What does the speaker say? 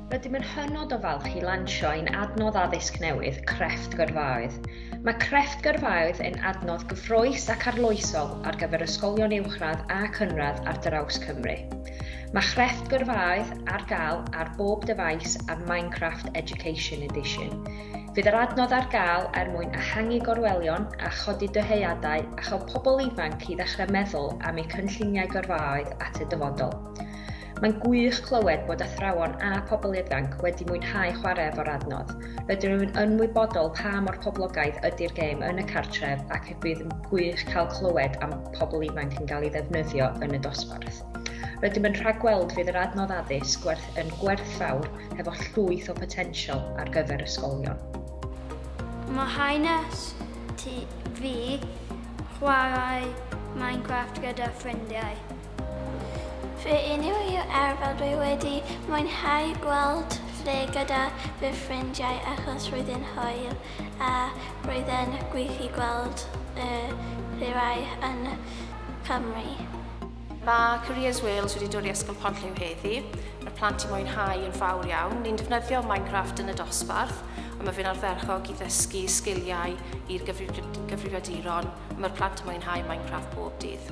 Rydym yn hynod o falch i lansio ein adnodd addysg newydd, Crefft Gyrfaoedd. Mae Crefft Gyrfaoedd yn adnodd gyffrous ac arloesol ar gyfer ysgolion uwchradd a cynradd ar draws Cymru. Mae Crefft Gyrfaoedd ar gael ar bob dyfais ar Minecraft Education Edition, Bydd yr adnodd ar gael er mwyn ehangu gorwelion a chodi dyheadau a chael pobl ifanc i ddechrau meddwl am eu cynlluniau gyrfaoedd at y dyfodol. Mae'n gwych clywed bod athrawon a phobl ifanc wedi mwynhau chwarae efo'r adnodd. Rydyn nhw'n ymwybodol pa mor poblogaidd ydy'r gêm yn y cartref ac bydd yn gwych cael clywed am pobl ifanc yn cael ei ddefnyddio yn y dosbarth. Rydym yn rhagweld fydd yr adnodd addysg gwerth yn gwerthfawr hefo llwyth o potensial ar gyfer ysgolion. Mae hanes ti fi chwarae Minecraft gyda ffrindiau. Fy enw yw Arfel, dwi wedi mwynhau gweld lle gyda fy ffrindiau achos roedd yn hwyl a roedd yn gwych i gweld y rhai yn Cymru. Mae Careers Wales wedi dod i Ysgol Pontlliw heddi. Mae'r plant i mwynhau yn fawr iawn. Ni'n defnyddio Minecraft yn y dosbarth, a mae fe'n ardderchog i ddysgu sgiliau i'r gyfrifiaduron, a mae'r plant yn mwynhau Minecraft bob dydd.